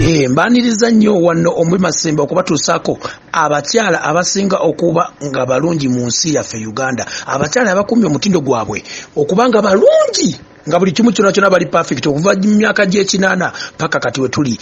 Eh, mbaniriza nnyo wanno omuli masembe okubatuusaako abakyala abasinga okuba nga balungi mu nsi yaffe uganda abakyala abakumye omutindo gwabwe okuba nga balungi nga buli kimu kyona kyona bali perfect okuva mu myaka gy'ekinaana paka kati we tuli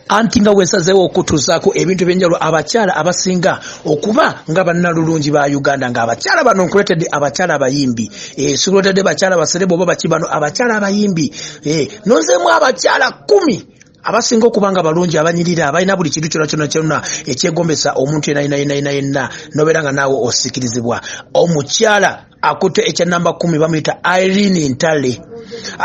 anti nga wesazeewo okutuzaako ebintu ebyenjawulo abakyala abasinga okuba nga bannalulungi ba uganda nga abakyala bano nkuletedde abakyala abayimbi eh, sikuletedde bakyala basereba oba baki bano abakyala abayimbi eh, nozeemu abakyala kumi abasinga okuba nga balungi abanyirira abalina buli kintu kyona kyona kyona ekyegombesa omuntu yenayinayenayina yenna nobeera nga naawe osikirizibwa omukyala akutte ekya namba kumi bamuyita irene ntale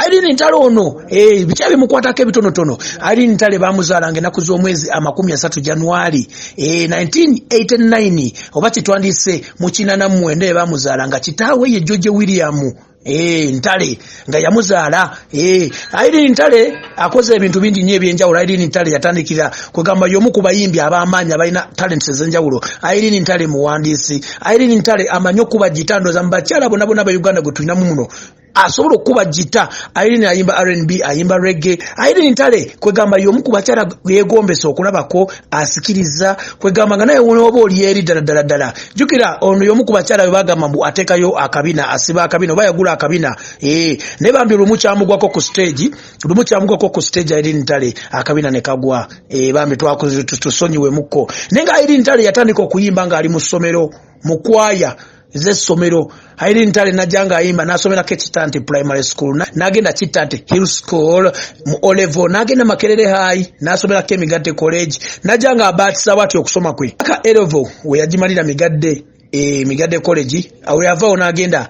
irene ntale ono eh, bikya bimukwatako ebitonotono irene ntale bamuzaalanga enaku z'omwezi amakumi asatu januari 1989 eh, oba kyetwandiise mukinana mumwenda ebamuzaalanga kitaawe ye george william eh, ntale nga yamuzaala eh, airin ntale akoze ebintu bingi nyo ebyenjawulo airin ntale yatandikira kwegamba yomu ku bayimbi abamaanyi abalina talent ezenjawulo airin ntale muwandiisi airin ntale amanyi okuba gita ndoza mu bakyala bona bona ba uganda gwe tulinamu muno asobola okukuba gita airin ayimba rnb ayimba regge airin ntale kwegamba yomu ku bakyala yegombesa okulabako asikiriza kwegamba nga naye wonaoba oli eri ddala ddala ddala jukira ono yomu ku bakyala bwe bagamba mbu ateekayo akabina asiba akabina oba yagula akabina ee naye bambi lumu kyamugwako ku stage lumu kyamugwako ku stage airin ntale akabina ne kagwa ee bambi twakutusonyiwemukko naye nga airin ntale yatandika okuyimba ng'ali mu ssomero mu kwaya z'essomero Irene Ntale najja ng'ayimba n'asomerako ekitanti primary school n'agenda kitanti hill school mu olevo n'agenda makerere high n'asomerako emigadde college najja ng'abaatisa bwati okusoma kwe aka elevo we yagimalira migadde e migadde college awo yavaawo n'agenda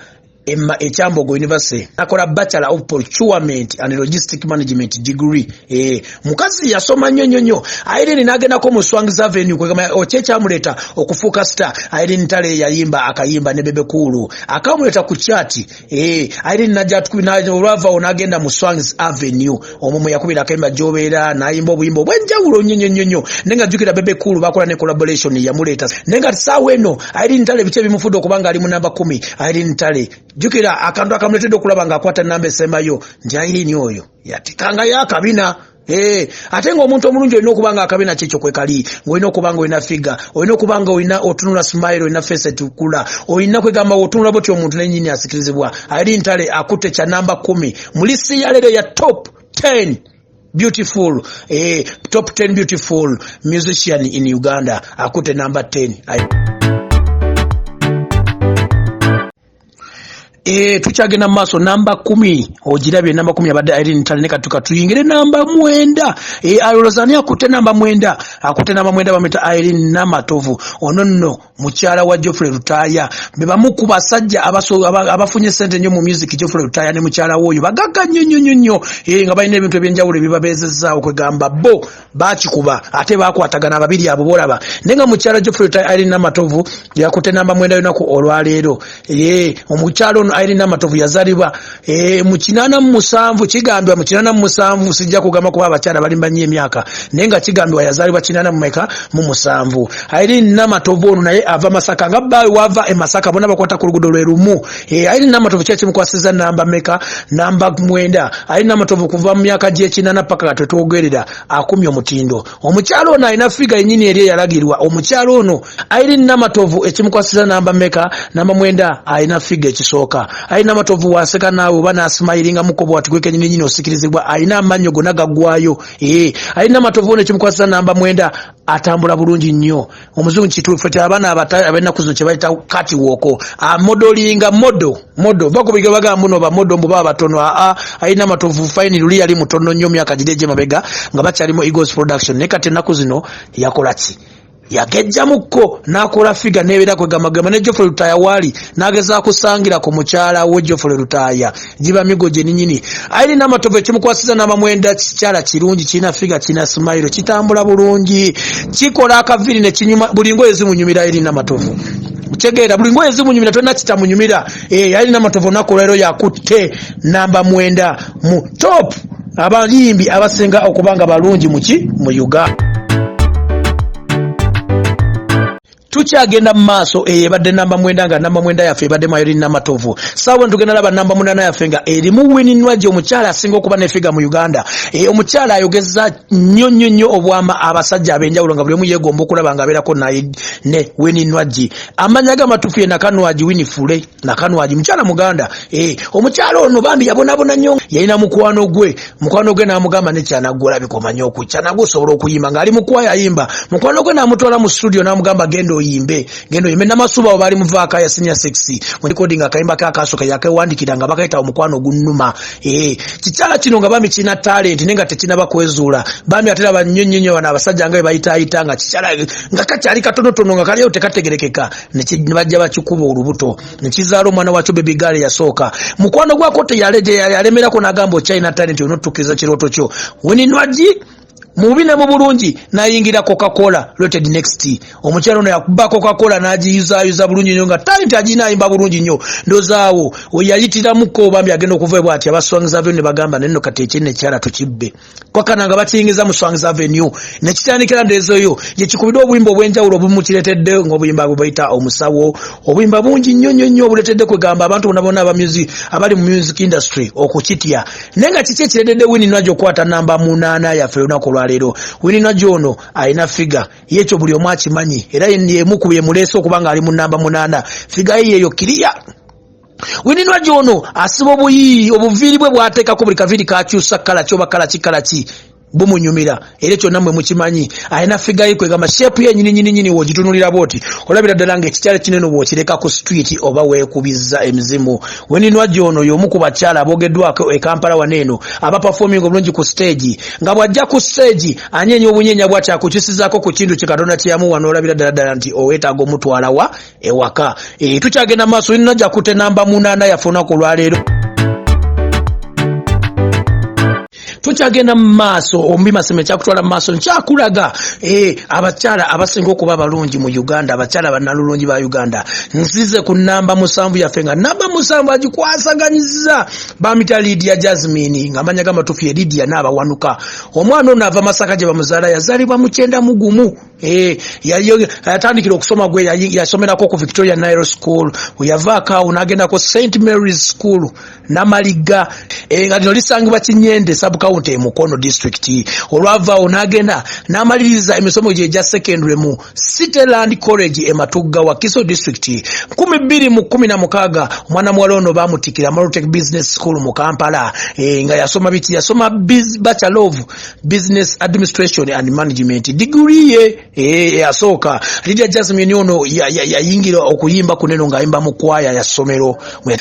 ekyambogo university nakola bachelor of procurement and logistic management degree Eh, mukazi yasoma nnyo nnyo nnyo irene nagendako mu swangz avenue kwegamba okyo oh, ekyamuleeta okufuuka star irene tale yayimba akayimba ne bebe kuulu akamuleeta ku kyati eh, irene najatolwavawo nagenda mu swangz avenue omwo mwe yakubira akayimba gyobeera nayimba obuyimba obwenjawulo nnyo nnyo nnyo nnyo naye nga jjukira bebe kuulu bakola ne collaboration yamuleeta naye nga saawa eno irene tale biki ebimufudde okuba nga ali mu namba kumi irene tale jjukira akantu akamuleetedde okulaba nga akwata namba esembayo nti irene oyo yatikangayo akabina Hey, eh, ate nga omuntu omulungi olina okuba nga akabina kyekyo kwekali ngaolina okuba nga olina figa olina okuba nga olina otunula smile olina fesi etukula olina kwegamba otunula botya omuntu nenyini asikirizibwa ali ntale akutte kya namba kumi mulisi yalero ya top 10 beautiful eh, top 10 beautiful musician in uganda akutte namba 10 Ayo. Eh, tukyagenda maaso namba kumi ogirabye namba kumi abadde irene tale ne katuka tuyingire namba mwenda eh, alolozani akutte namba mwenda akutte namba mwenda bamwita irene namatovu ono nno mukyala wa geoffrey lutaaya be bamu ku basajja abafunye sente nnyo mu music geoffrey lutaaya ne mukyala we oyo bagagga nnyo nnyo nnyo nnyo eh, nga balina ebintu ebyenjawulo ebibabeezezaawo kwegamba bo bakikuba ate bakwatagana ababiri abo bolaba naye nga mukyala geoffrey ta irene namatovu yakute namba mwenda yonaku olwaleero e, omukyala ono irene namatovu yazalibwa e, mu kinana mu musanvu kigambibwa mu kinana mu musanvu sijja kugamba kuba abakyala balimba nnyo emyaka naye nga kigambibwa yazalibwa kinana mumeka mu musanvu irene namatovu ono naye ava masaka nga baawe wava e masaka bona bakwata ku lugudo lwe lumu Eh, ali namatovu kyaki mukwasiza namba meka namba mwenda ali namatovu kuva mu myaka gyekinana paka nga twetwogerera akumye omutindo omukyalo ono alina figa yenyini eri eyalagirwa omukyalo ono ali namatovu ekimukwasiza namba meka namba mwenda alina figa ekisooka ali namatovu waseka naawe oba nasimayiringa mukobo watigwekenyini nyini osikirizibwa alina amannyo gona gagwayo ee eh, ali namatovu ono ekimukwasiza namba mwenda atambula bulungi nnyo omuzungu kituufu ti abaana abenaku zino kyebayita kati woko amodolinga modo modo va kubiga baga mbuno bamodo mbuba abatono aa ayina matovu fine luli yali mutono nyo myaka gide gye mabega nga bakyalimu eagles production naye kati enaku zino yakola ki yagejjamukko n'akola figa n'ebeera kwegambagamba ne jofule lutaaya waali n'agezaako kusangirako mukyala we jofule lutaaya giba migo gyeninyini aine namatovu ekimukwasiza namamwenda kikyala kirungi kirina figa kirina simairo kitambula bulungi kikola akaviri nekinyuma buli ngoye zimunyumira aine namatovu kitegeera buli ngoye zimunyumira tolina kitamunyumira eh, aine namatovu olunaku olwairo yakutte namba mwenda mu top abayimbi abasinga okuba nga balungi muki mu uganda tukyagenda mu maaso eyo ebadde namba mwenda nga namba mwenda yaffe ebadde mayori namatovu saawa tugenda laba namba munana yaffe nga erimu wininwaji omukyala asinga okuba nefiga mu uganda e, omukyala ayogeza nnyo nnyo nnyo obwama abasajja abenjawulo nga buli omu yegomba okulaba nga abeerako naye ne wininwaji amanya ge amatufu ye nakanwaji winifule nakanwaji mukyala muganda eh, omukyala ono bambi yabonabona nyo yalina mukwano gwe mukwano gwe namugamba nekyanagwolabikomanyo oku kyanagwe osobola okuyimba ngaali mukwaya ayimba mukwano gwe namutwala mu studio namugamba genda oyimbe genda oyimbe namasuba awo baali muvaaka ya senior sexy mulikoding akayimba ke akasoka yakewandikira nga bakayita omukwano ogunuma eh, kikyala kino nga bambi kirina talent naye nga tekinaba kwezuula bambi atera banyonyonyo bano abasajja nga bebayitaayita nga kikyala nga kakyali katonotono nga kaliyo tekategerekeka nebajja bakikuba olubuto nekizaala omwana wakyo bebigaala eyasooka mukwano gwako teyalemerako nagamba okyalina talenti olina otutukiriza kirooto kyo weninwagi mububi ne mubulungi nayingira cocacola rated next omukyalo ono yakuba cocacola nagiyuzayuza bulungi nyo nga talenti agirina ayimba bulungi nyo ndozaawo weyayitiramuko bambi agenda okuvaebwa ati abaswangiza vyo ne bagamba nenno kati ekyenekyala tukibbe kwakana nga batiyingiza mu swangs avenue nekitandikira ndezo yo yekikubidwa obuyimba obwenjawulo obumukiretedde ngobuyimba bwebayita omusawo obuyimba bungi nnyo nnyo nnyo obuletedde kwegamba abantu bona bona aba music abali mu music industry okukitya naye nga kiki ekiretedde wini najo okwata namba munaana yaffe olunaku olwaleero wini najo ono alina figa yekyo buli omu akimanyi era yemukuba emuleese okuba nga ali mu namba munaana figa ye yeyo kiriya wininwa gyono asiba obuyiiyi obuviiri bwe bwateekako buli kaviiri kakyusa kala kyoba kala kikala ki bumunyumira era ekyo namwe mukimanyi alina figayi kwegamba shepu yenyininyininyini wogitunulira bwoti olabira ddala nga ekikyala kinene bwokireka ku street oba wekubiza emizimu weninwa gyono yomu ku bakyala abogeddwako e kampala wano eno abapafoming obulungi ku stage nga bwajja ku stage anyeenya obunyenya bwati akukyusizako ku kintu kye katonda kyeyamuwa nolabira ddala ddala nti owetaaga omutwalawa ewaka e, tukyagenda maaso yinna jakute namba munaana yaffe olunaku olwaleero tukyagenda mu maaso ombi masema ekyakutwala mu maaso nkyakulaga eh, abakyala abasinga okuba abalungi mu uganda abakyala banalulungi ba uganda nzize ku namba musanvu yaffe nga namba musanvu agikwasaganyiza bamita lidia jasmine nga amanya gamatufu ye lidia naabawanuka omwana ono ava masaka gye bamuzaala yazaalibwa mukyenda mugumu Eh, yatandikira okusoma gwe yasomerako ku victoria nile school weyavaako awo nagendako st marys school namaligga eh, nga lino lisangibwa kinyende subcount emukono district olwavaawo nagenda namaliriza emisomo gye egya secondary mu cityland college ematugga wa kiso district 216 omwana muwala ono bamutikira malotec business school mu kampala eh, nga yasoma biki yasoma bachelove business administration and management degree ye eh, yasooka Lydia Jasmine ono yayingira ya, ya okuyimba kuneno ng'ayimba mu kwaya ya ssomero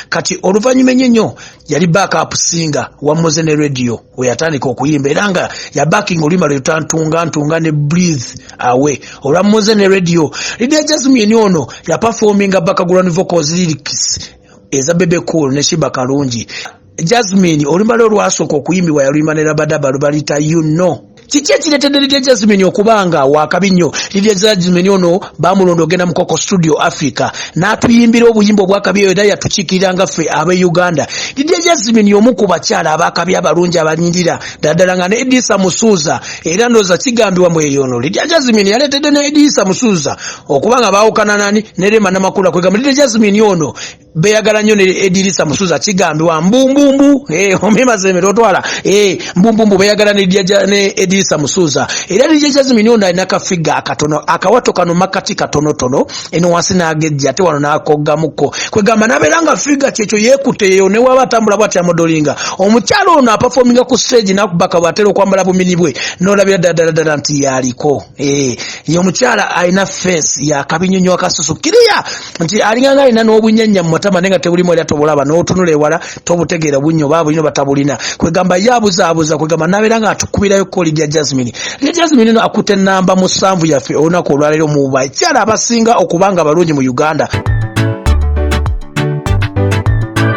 kati oluvannyuma ennyo nnyo yali backup singer wa Mozene radio we yatandika okuyimba era nga ya backing oluyimba lwe lutantunga ntunga ne breathe away olwa Mozene radio Lydia Jasmine ono yaperforminga background vocals lyrics eza bebe cool ne shiba kalungi jasmine olumba lwe olwasooka okuyimbibwa yaluyimba ne rabadaba lubalita you know kiki ekiretedde lidia jasmine okuba nga wakabi nnyo lidia jasmine ono bamulonda ogenda mukoko studio africa n'atuyimbira obuyimba obwakabi eyo era yatukiikirira nga ffe abe uganda lidia jasmine omu ku bakyala abakabi abalungi abanyirira ddaddala nga ne edisa musuuza era ndooza kigambibwa mu eyo ono lidia jasmine yaleetedde ne edisa musuuza okuba nga baawukana nani ne rema namakula kwegamba lidia jasmine ono beyagala nyo ne edirisa musuza kigambibwa mbumbumbu eh, omemazemere otwala eh, mbumbumbu beyagala ne edirisa musuza era dija jazimini ono alina kafiga akatono akawato kano makati katonotono eno wansi nagejja ate wano nakoggamuko kwegamba nabeera nga figa kyekyo yekuteyo newaba atambula bwati amodolinga omukyalo ono apafominga ku stage nakubaka bwatera okwambala bumini bwe nolabira ddala ddala ddala nti yaliko Eh, ye omukyala alina fesi yakabinyonyo akasusu kiriya nti alinganga alina n'obunyanya mumatama naye nga tebulimu era tobulaba n'otunula ewala tobutegeera bunyo oba bulino batabulina kwegamba ye abuzaabuza kwegamba nabeera nga atukubirayo koli lya jasmine lya jasmine no akute namba musanvu yaffe olunaku olwaleero muba ekyala abasinga okubanga abalungi mu uganda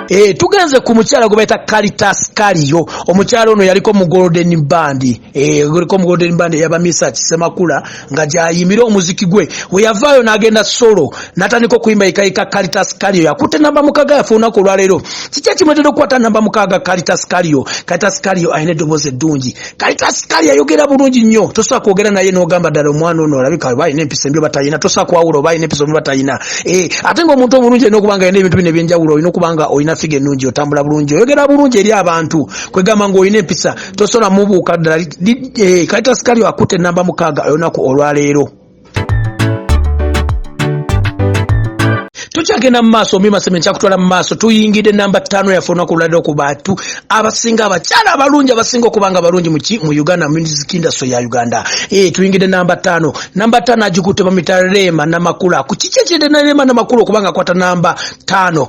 eh, tugenze ku mukyala gwe baita kalitas kaliyo omukyala ono yaliko mu golden bandi Eh, guliko mugolden band eyabamisa kisemakula nga gyayimira omuziki gwe weyavaayo n'agenda solo natandika okuyimba yekayika kalitas kalio yakutte namba mukaga yafe olunaku olwaleero kiki ekimwetera okukwata namba mukaga kalitas kalio kalitas kalio alina eddoboozi eddungi kalitas kalio ayogera bulungi nnyo tosobola kwogera naye n'ogamba ddala omwana ono olabika oba alina empisa embi obatalina tosobola kwawula oba alina empisa embi obatalina eh, ate ngaomuntu omulungi alina okuba nga alina ebintu bino ebyenjawulo olina okuba nga olina figa ennungi otambula bulungi oyogera bulungi eri abantu kwegamba ngaolina empisa tosobola mubuuka ddala eh, kalita sikali akutte enamba mukaaga olunaku olwaleero tukyagenda mu maaso omimaseme nkyakutwala mu maaso tuyingidde namba ttaano yaffe olunaku luladdeo ku bantu abasinga abakyala abalungi abasinga okuba nga abalungi muki mu uganda music industry ya uganda e, tuyingidde namba ttaano namba ttaano agikutte bamita reema namakula ku kiki ekirede na reema namakula okuba nga akwata namba ttaano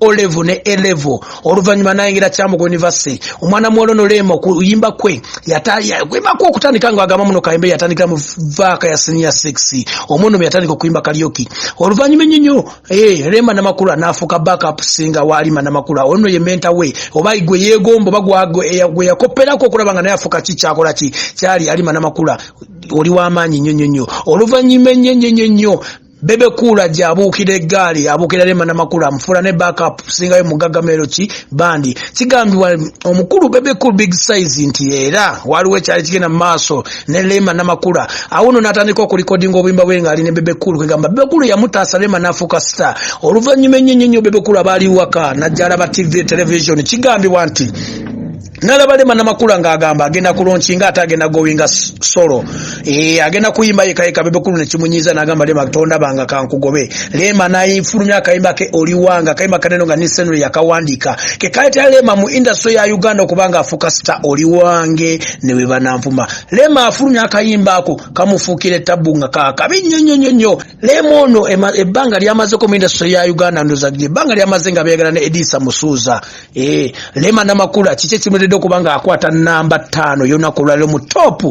olevo ne elevo oluvannyuma nayingira kyamugo univesity omwana muwala ono leema okuyimba kwe yatakwembako okutandika nga agamba muno kayimbe yatandikira mu vaaka ya senior 6 omwana omu yatandika okuyimba kalyoki oluvannyuma ennyo nnyo eh, leema namakula naafuuka backup singa waalima namakula ono ye menta we oba gwe yeegomba oba eh, gwe yakopperako okulaba nga naye afuuka ki kyakola ki kyali alima namakula oli w'amaanyi nnyo nnyo nnyo oluvannyuma ennyo nnyo nnyo nnyo Bebe Cool ajja abuukira eggaali abuukira Rema Namakula amufuula ne backup singayo mugagga Meloki bandi kigambibwa omukulu Bebe Cool big size nti era waliwo ekyali kigenda mu maaso ne Rema Namakula awuno n'atandika okulikodinga obuyimba bwe ng'ali ne Bebe Cool kwegamba Bebe Cool yamutaasa Rema n'afuuka star oluvannyuma ennyo nnyo nnyo Bebe Cool abaali waka n'ajja alaba TV television kigambibwa nti nalaba lema namakula nga agamba agenda kulonchi nga ata agenda gowinga solo e, agenda kuyimba yeka yeka bebe kulu nekimunyiza nagamba lema tonda banga kankugobe lema nayifulumya akayimba ke oliwanga kayimba kaneno nga nisenule yakawandika ke kayita lema mu industry ya uganda okubanga afuka star oliwange newe bananvuma lema afulumya akayimba ako kamufukire tabu nga kakabi nyonyonyonyo Lema ono ebbanga lyamazeko mu industry ya Uganda ndoza gye ebbanga lyamaze nga beyagala ne Edisa Musuuza eh Lema namakula kiki ekimuleddeko kubanga akwata namba ttaano y'olunaku olwaliro mu top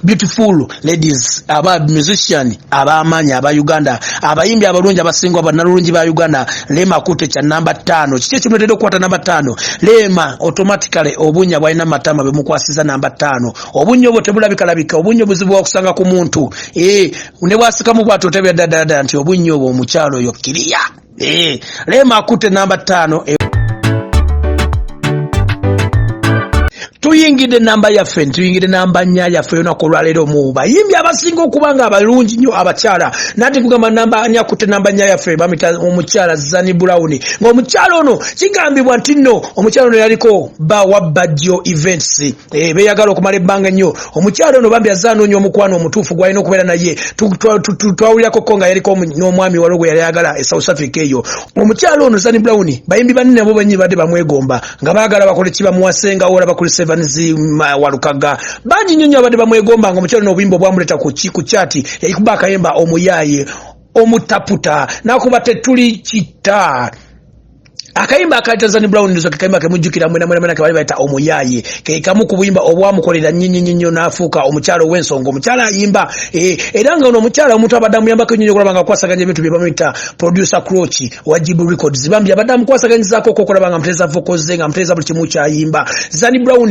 beautiful ladies aba musician ab'amaanyi aba Uganda abayimbi abalungi abasingwa bannalulungi ba Uganda Lema akutte kya namba ttaano kiki ekimuleddeko okukwata namba ttaano Lema automatically obunya bwalina matama bemukwasiza namba ttaano obunya obwo tebulabikalabika obunya obuzibu bwakusanga ku muntu eh ne bwasikamu bwati otabira dadadada nti obunnya obwo omukyalo oyo kiriya eh, leema akutte namba ttaano eh. tuyingidde namba yaffe ntuyingidde namba nya yaffe yonaku olwaleero mu bayimbi abasinga okuba nga abalungi nnyo abakyala nati kugamba namba nya kutte namba nya yaffe bamita omukyala zani brown ngaomukyala ono kigambibwa nti nno omukyala ono yaliko ba wabbajjo events Eh, beyagala okumala ebbanga ennyo omukyalo ono bambi azze anoonya omukwano omutuufu gwalina okubeera naye twawulirako ko nga yaliko n'omwami waliwo gwe yali ayagala e south africa eyo omukyalo ono zani brown bayimbi banne nabo banyini badde bamwegomba nga baagala bakole kibamuwasenga ola bakuli sevens walukaga bangi nnyo nnyo abadde bamwegomba nga omukyalo ono obuyimba obwamuleeta ku kyati yayikuba akayemba omuyaaye omutaputa nakuba tetuli kita akayimba aka tanzani brown ndizo kekayimba kemujjukira mwena mwena mwena kebali bayita omuyaaye kekamu ku buyimba obwamukolera nnyinnyinnyo n'afuuka omukyala ow'ensonga omukyala ayimba eh, era nga ono omukyala omuntu abadde amuyambako ennyo okulaba nga akwasaganya ebintu bye bamuyita producer croci owa jibu records bambi abadde amukwasaganyizaako okokolaba nga amutereeza vokoze nga amutereeza buli kimu kyayimba zani brown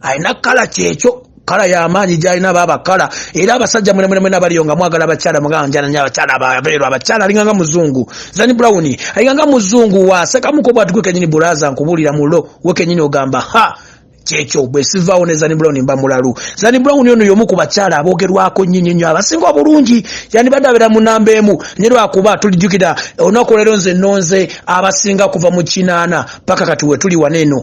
alina kala kyekyo kala yamaanyi gyalina baaba kala era abasajja mwenemwenemwena baliyo nga mwagala abakyala mugaanjananya abakyala babeerwa abakyala alinga nga muzungu zani brown alinga nga muzungu wasekamuko bwatigwe kenyini buraza nkubuulira mulo we kenyini ogamba ha kyekyo bwe sivaawo ne zani brown mba mulalu zani brown ono yomu ku bakyala abogerwako nyinyi nnyo abasinga obulungi yandibadde abeera mu namba emu nye lwakuba tulijjukira olunaku olero nze nonze abasinga kuva mu kinaana paka kati wetuli wano eno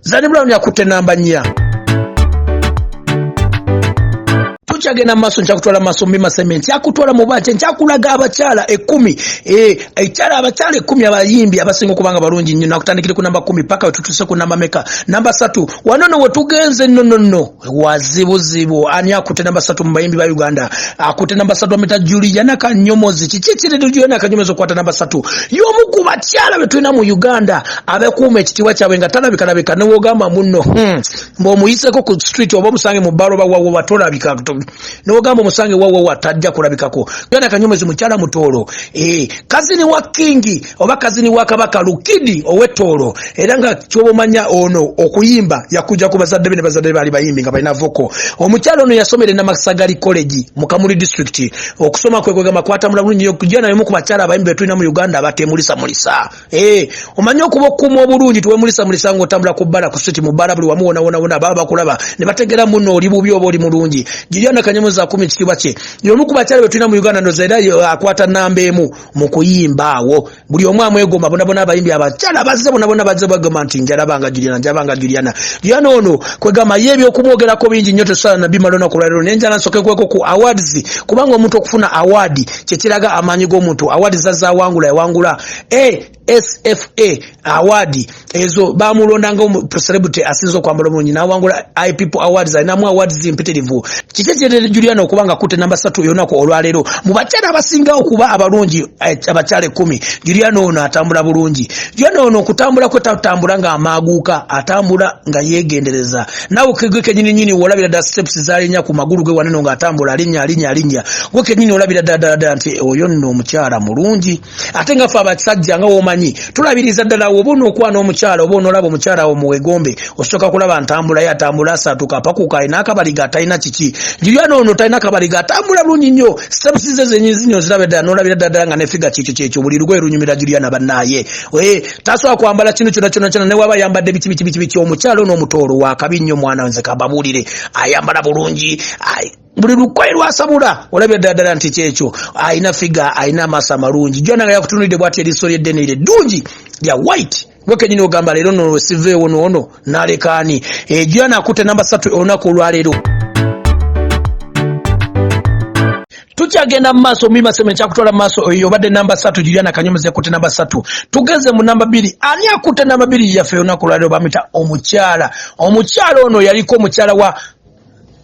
Zani Brown yakutte namba nnya. tukyagenda maaso nkyakutwala maaso mbi masembe nkyakutwala mu banje nkyakulaga abakyala ekumi eh, ekyala abakyala ekumi abayimbi abasinga okubanga balungi nnyo nakutandikire ku namba kumi paka wetutuse ku namba meka namba satu wanono wetugenze nonono wazibuzibu ani akute namba satu mubayimbi ba uganda akute namba satu amita juliana kanyomozi kiki ekiridu juliana kanyomozi okwata namba satu yomu ku bakyala betulina mu uganda abekuuma ekitiibwa kyabwe nga talabikalabika newogamba muno hmm. mbeomuyiseko ku street oba omusange mu baloba wawowa tolabika newogamba omusange wawowa tajja kulabikako juliana kanyomozi mukyala mutoolo eh, kazini wa kingi oba kazini wa kabaka lukidi owetoolo era nga kyobomanya ono okuyimba yakuja ku bazadde be ne bazadde baali bayimbi nga balina voko omukyalo ono yasomera enamasagali college mu kamuli district okusoma kwe kwegamba kwatamula bulungi nyo kujana yomu ku bakyala abayimbi betulina mu uganda abatemulisa mulisa eh omanyi okuba okuuma obulungi tuwemulisa mulisa nga otambula ku bbala ku siti mu bbala buli wamu wona wona wona baba bakulaba ne bategera muno oli bubi oba oli mulungi jiriana kanyamuza akumi ekitiibwa kye yomu ku bakyala betulina mu uganda ndoza era akwata namba emu mukuyimba awo buli omu amwegomba bonabona abayimbi abakyala bazze bonabona bazze bagamba nti njalabanga juliana njalabanga juliana juliana ono kwegamba ye ebyokumwogerako bingi nnyo tesobola nabimala onaku lwalero naye njala nsoke kweko ku awards kubanga omuntu okufuna awaadi kyekiraga amaanyi g'omuntu awaadi zazawangula yawangula e eh, SFA award ezo bamulonda nga celebrity asinzo kwa mbolo munyi nawangula i people awards na mu awards impitirivu kike kye Juliana okuba nga kute namba 3 yona ko olwalero mu bachara abasinga okuba abalungi eh, abachale 10 Juliana ono atambula bulungi Juliana ono kutambula kwe tatambula nga amaguka atambula nga yegendereza nawo kigwe kenyini nyini wolabira da steps zali nya ku magulu gwe waneno nga atambula alinya alinya alinya gwe kenyini olabira da da da nti oyo no muchara mulungi ate nga fe abasajja nga womanyi tulabiriza ddala woba onokwana omukyala oba onolaba omukyala wo muwegombe osooka kulaba ntambula ye atambula asatuka apakuka alina akabaliga atalina kiki juliana ono talina akabaliga atambula bulungi nnyo steps ze zenyi zinyi oziraba ddala nolabira ddala nga nefiga kyekyo kyekyo buli lugoye lunyumira juliana bannaaye eh, tasobola kwambala kino kyona kyona kyona newaba ayambadde biki biki biki biki omukyala ono omutoolo wakabi nnyo mwana nze kababuulire ayambala bulungi buli lukoye lwasabula olabya ddala ddala nti kyekyo alina figa alina amaaso amalungi jona nga yakutunulidde bwati eriiso lyeddene ire ddungi lya white gwekenyini ogamba leero no siveewo noono nalekaani ejo yanakutte namba satu olunaku olwaleero tukyagenda mu maaso mima sema ekyakutwala mu maaso oyo obadde namba satu juliana kanyomozi yakutte namba satu tugeze mu namba bbiri ani akutte namba bbiri yaffe olunaku olwaleero bamita omukyala omukyala ono yaliko omukyala wa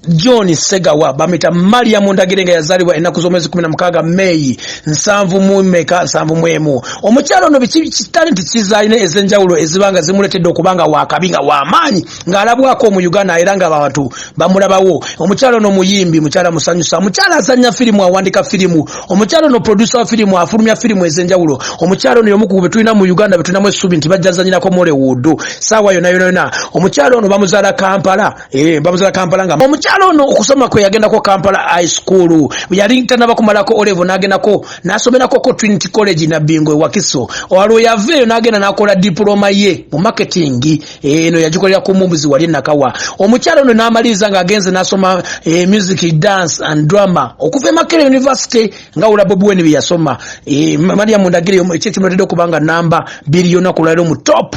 John Segawa bamita Mariam Ndagire nga yazalibwa enaku z'omwezi 16 May nsanvu mu meka nsanvu mwemu omukyalo no biki talenti kizalina ezenjawulo ezibanga zimuletedde okubanga wakabi nga wamaanyi nga alabwako mu Uganda era nga abantu bamulabawo omukyalo no muyimbi mukyala musanyusa mukyala azanya filimu awandika filimu omukyalo no producer wa filimu afulumya filimu ezenjawulo omukyalo no yomu ku betulina mu Uganda betulinamu essubi nti bajjazanyirako Mollywood saawa yona yona yona omukyalo no bamuzala Kampala Eh, babuza kampala nga omukyalo ono okusoma kwe yagendako kampala high school yali tanaba kumalako olevo nagendako nasomerako ko trinity college nabingo ewakiso olwo yaveeyo nagenda nakola diploma ye mu marketing eh, eno yagikolera ku mumbuzi wali nakawa omukyalo ono namaliriza nga agenze nasoma e, music dance and drama okuva emakere university nga ula bobi weni byeyasoma e, maria mundagire ekyekimuletedde okubanga namba biri yona kulwaliro mu top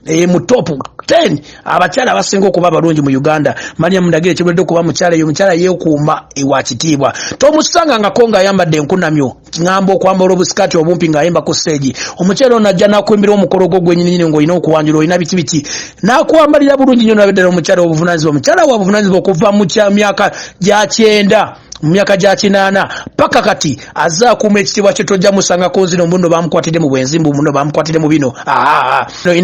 e, mu top 10 abakyala abasinga okuba abalungi mu uganda maliam ndagire kibuledde okuba mukyala eyo omukyala yeekuuma ewa kitiibwa tomusanga ngako ngaayambadde enkunamyo ngamba okwambala obusikati obumpi ngaayemba ku seegi omukyala ono ajja nakuimbira omukolo gwo gwenyininyini ngaolina okuwanjula olina biki biki nakwambalira bulungi nyo nabeddala omukyala obuvunanyizibwa omukyala wa buvunanyizibwa okuva mu myaka gya kyenda mu myaka gya kinaana paka kati aze akuuma ekitiibwa kye tojja musangako nzino muno bamukwatidde mu bwenzi mbu muno bamukwatidde mu bino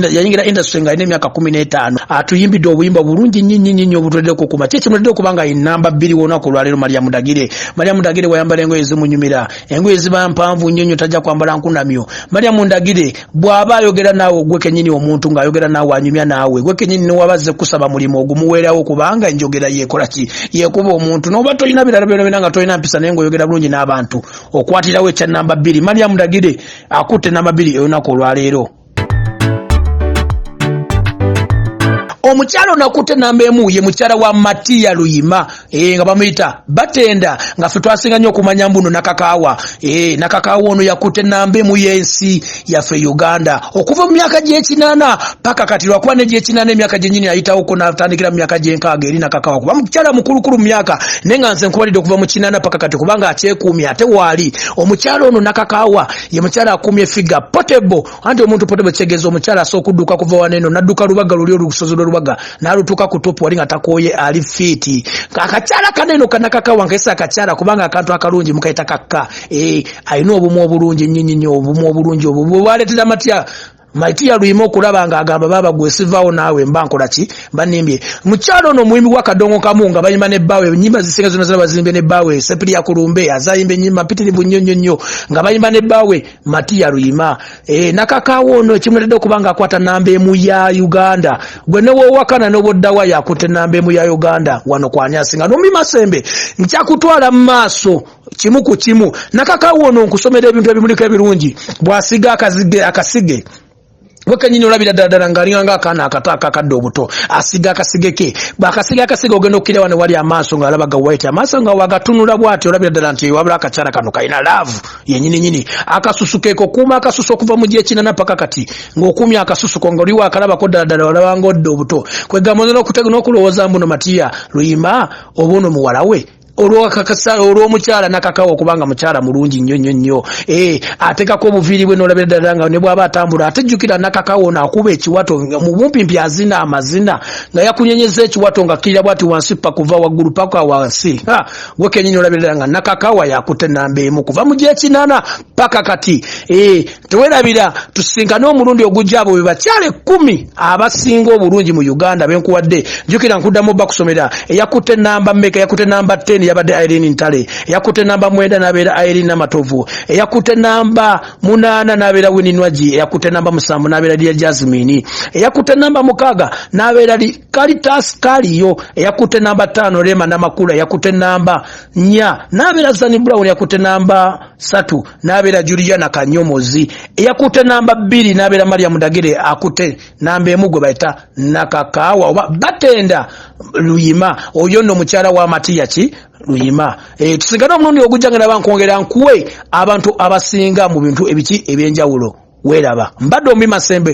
yayingira industry nga alina emyaka kumi n'etaano atuyimbidde obuyimba bulungi nyinyinyinyi obutulede okukuma ki kimulede okuba nga enamba bbiri wonaku olwaleero maria mudagire maria mudagire wayambala engoye zimunyumira engoye ziba mpanvu nnyo nnyo tajja kwambala nkunamyo maria mundagire bwaba ayogera naawe ogwe kenyini omuntu ng'ayogera naawe anyumya naawe gwe kenyini newabazze kusaba mulimu ogumuweerawo kubanga enjogera yekola ki yekuba omuntu noba tolina birala byona byona nga tolina mpisa naye ngaoyogera bulungi n'abantu okwatirawo ekya namba bbiri mariamu dagire akutte namba bbiri eyolunaku olwaleero omukyalo nakutte namba emu ye mukyala wa matiya luyima ee nga bamuyita batenda nga fe twasinga nyo okumanya mbuno nakakaawa ee nakakaawa ono yakutte namba emu yensi yaffe uganda okuva mu myaka gyekinana paka kati lwakuba negyekinana emyaka gyenyini ayitawoko natandikira mu myaka gyenkaaga eri nakakaawa kuba mukyala mukulukulu mu myaka naye nga nze nkubalidde okuva mu kinana paka kati kubanga akyekuumye ate waali omukyala ono nakakaawa ye mukyala akuumye figa potable anti omuntu potable kitegeza omukyala asobola okudduka kuva waneno nadduka lubaga luli olusozi lwelubaga nalutuuka ku topu wali nga takooye ali fiiti akakyala kaneno kanakakawa nkaisa akakyala kubanga akantu akalungi mukaita kakka eh, alina obumu obulungi nyinyinyi obumu obulungi obwo bwebwaletera matya maiti yaluyima okulaba nga agamba baba gwe sivaawo naawe mba nkola ki banimbye mukyalo ono omuyimbi wa kadongo kamu nga bayimba ne bbaawe enyimba zisinga zona zona bazimbye ne bbaawe sepiri yakulumbe azayimba enyimba mpitirivu nnyo nnyo nnyo nga bayimba ne bbaawe matiya luyima e, nakakaawo ono ekimuletedde okuba nga akwata namba emu ya uganda gwe newowakana noboddawa yakutte namba emu ya uganda wano kwanyasinga nomi masembe nkyakutwala mu maaso kimu ku kimu nakakaawo ono nkusomera ebintu ebimuliko ebirungi bwasiga akasige wekanyini olabira ddala ddala ngaalinga nga akaana akato akakadde obuto asiga akasige ke bwakasiga akasige ogenda okukira wano wali amaaso ngaalaba gawaiti amaaso nga wagatunula bwati olabira ddala nti wabula akakyala kano kalina laavu yenyini nyini akasusu keeko okuuma akasusu okuva mu gyekinana paka kati ngaokuumya akasusu ko nga oliwo akalabako ddala ddala olabanga odde obuto kwegamba oza nokulowooza mbuno matiya luyima oba ono muwala we olwakakasa olwomukyala nakakawa okubanga mukyala mulungi nnyo nnyo nnyo eh, atekako obuviiri bwe nolabira ddala nga ne bwaba atambula ate jjukira nakakawa ono akuba ekiwato mu bumpimpi azina amazina nga yakunyenyeza ekiwato nga kkirira bwati wansi pa kuva waggulu paka wansi gwe kenyini olabira ddala nga nakakawa yakutte namba emu kuva mu gyekinana paka kati eh, tewerabira tusinkane omulundi ogujja abo bebakyala ekkumi abasinga obulungi mu uganda benkuwadde njukira nkuddamu oba kusomera eyakutte namba meka eyakutte namba 10 yabadde irene ntale eyakutte namba mwenda nabeera irene namatovu eyakutte namba munaana nabeera wininwagi eyakutte namba musanvu nabeera lya jasmini eyakutte namba mukaaga nabeera kalitas kaliyo eyakutte namba tano rema namakula eyakutte namba nya nabeera zani brown eyakutte namba satu n'abeera juliana kanyomozi eyakutte namba bbiri n'abeera maria mudagire akutte namba emu gwe bayita nakakaawa oba batenda luyima oyo nno mukyala wa matiya ki luyima e, tusigane omulundi ogujja nga naba nkwongera nkuwe abantu abasinga mu bintu ebiki ebyenjawulo weeraba mbadde omi masembe